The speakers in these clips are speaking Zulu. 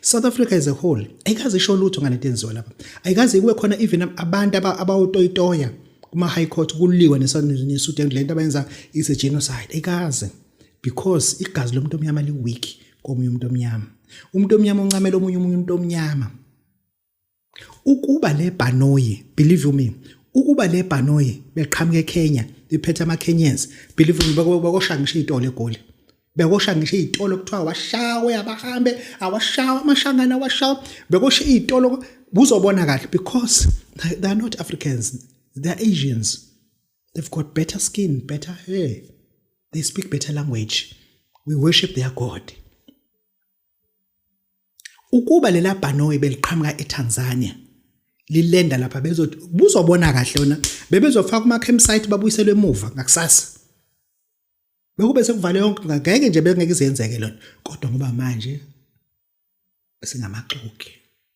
South Africa as a whole ayikaze isho lutho ngale nto enziwa lapha ayikaze kube khona even abantu abawutoyitoya kuma high court kuliwa nesuit and lento abayenza is a genocide ayikaze because igazi lomuntu omnyama li weak komunye umuntu omnyama umuntu omnyama uncamela omunye umuntu omnyama ukuba le bhanoyi believe you me ukuba le bhanoyi beqhamuka eKenya bephethe amaKenyans believe you me bakosha ngisho izitolo egoli bekosha ngisho izitolo kuthiwa washawe abahambe awashawa amashangana awashawa bekosha izitolo buzobona kahle because they are not Africans they are Asians they've got better skin better hair they speak better language we worship their god ukuba lela bhanoyi beliqhamuka eTanzania lilenda lapha bezothi buzobona kahle yona bebezofaka kuma campsite babuyiselwe emuva ngakusasa bekube sekuvale yonke ngeke nje bengeke izenzeke lona kodwa ngoba manje singamaxoki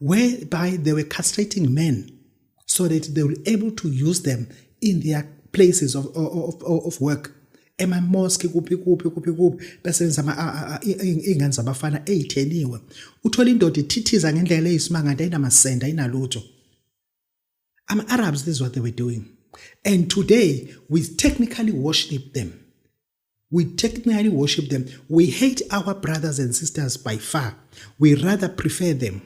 whereby they were castrating men so that they were able to use them in their places of, of, of, of work emamoski kuphi kuphi kuphi kuphi besebenza iy'ngane zabafana ey'theniwe uthola indoda ithithiza ngendlela eyisimanga nto ayinamasenda ayinalutho ama-arabs this is what they were doing and today we technically worship them We technically worship them. We hate our brothers and sisters by far. We rather prefer them.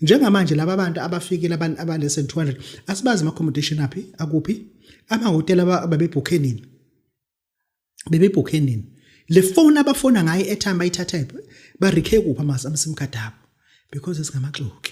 Njengamanje laba bantu abafikile abantu abale 200 asibazi ama accommodation aphi akuphi ama hotel ababebhukhe nini bebebhukhe nini le phone abafona ngayo airtime bayithatha ba recare kuphi ama sim card abo because esingamaxoki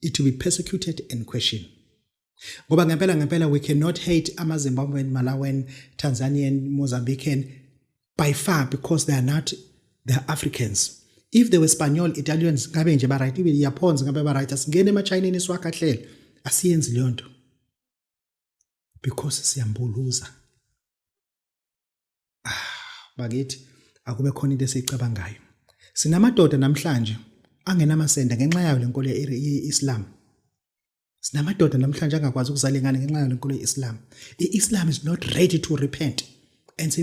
it will be persecuted and questioned ngoba ngempela ngempela we cannot hate amazimbabwean malawian tanzanian mozambican by far because they are not they are africans if they were spanish italians ngabe nje ba-right ibe yaphonza ngabe ba-right asingene emachineni siwakhahlele asiyenzi leyo nto because siyambuluza ah bakithi akube khona into esiyicabangayo sinamadoda namhlanje angenamasende ngenxa yayo lenkolo ye-Islam sinamadoda namhlanje angakwazi ukuzala ingane ngenxa yayo lenkolo ye-Islam i-Islam is not ready to repent and say